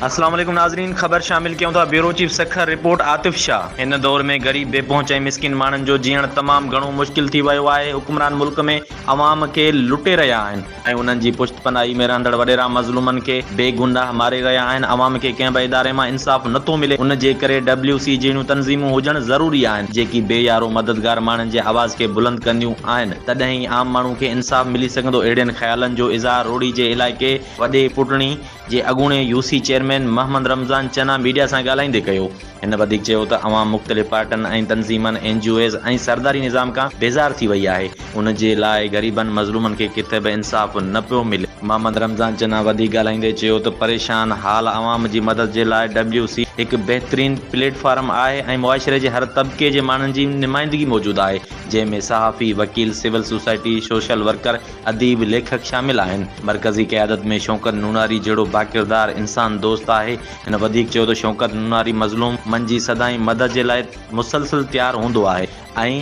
اسلام عليڪم ناظرين خبر شامل ڪيون ٿا bureau chief Sukkur report Atif Shah هن دور ۾ غريب بي پهچ ۽ مسڪين ماڻهن جو جيئڻ تمام گهڻو مشڪل ٿي ويو آهي حڪمران ملڪ ۾ عوام کي لٽي رهيا آهن ۽ انهن جي پشت پناهي ۾ رهندڙ وڏيرا مظلومن کي بي گناهه ماري رهيا آهن، عوام کي ڪنهن به اداري مان انصاف نٿو ملي، ان جي ڪري ڊبليو سي جهڙيون تنظيمون هجڻ ضروري آهن، جيڪي بي يارو مددگار ماڻهن جي آواز کي بلند ڪنديون آهن، تڏهن ئي عام ماڻهو کي انصاف ملي سگهندو، اهڙين خيالن جو اظهار روهڙي جي علائقي وڏي پٽڻي. جي اڳوڻي U C chairman Muhammad Ramzan Channa media سان ڳالهائيندي ڪيو. هن وڌيڪ چيو ته عوام مختلف پارٽن ۽ تنظيمن، اين جي اوز ۽ سرداري نظام کان بيزار ٿي وئي آهي، ان جي لاء غريبن مظلومن کي ڪٿي به انصاف نه پيو ملي. محمد رمضان چنا وڌيڪ ڳالهائيندي چيو ته پريشان حال عوام جي مدد جي لاء ڊبليو سي هڪ بهترين پليٽ فارم آهي ۽ معاشري جي هر طبقي جي ماڻهن جي نمائندگي موجود آهي جنهن ۾ صحافي، وڪيل، سول سوسائٽي، سوشل ورڪر اديب، ليکڪ شامل آهن. مرڪزي قيادت ۾ شوڪت نوناري جهڙو باڪردار انسان دوست آهي. هن وڌيڪ چيو ته شوڪت نوناري مظلوم من جي سدائين مدد جي لاء مسلسل تيار هوندو آهي ۽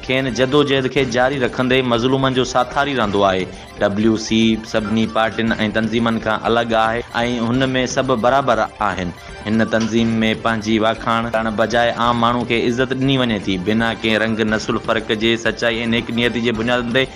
کين جدوجهد کي جاري رکندي مظلومن جو ساٿاري رهندو آهي. ڊبليو سي سڀني پارٽين ۽ تنظيمن کان الڳ آهي ۽ هن ۾ سڀ برابر آهن. هن تنظيم ۾ پنهنجي واکاڻ ڪرڻ بجاء عام ماڻهو کي عزت ڏني وڃي ٿي. بنا ڪنهن رنگ نسل فرق جي سچائي ۽ نيڪ نيتي جي بنيادن تي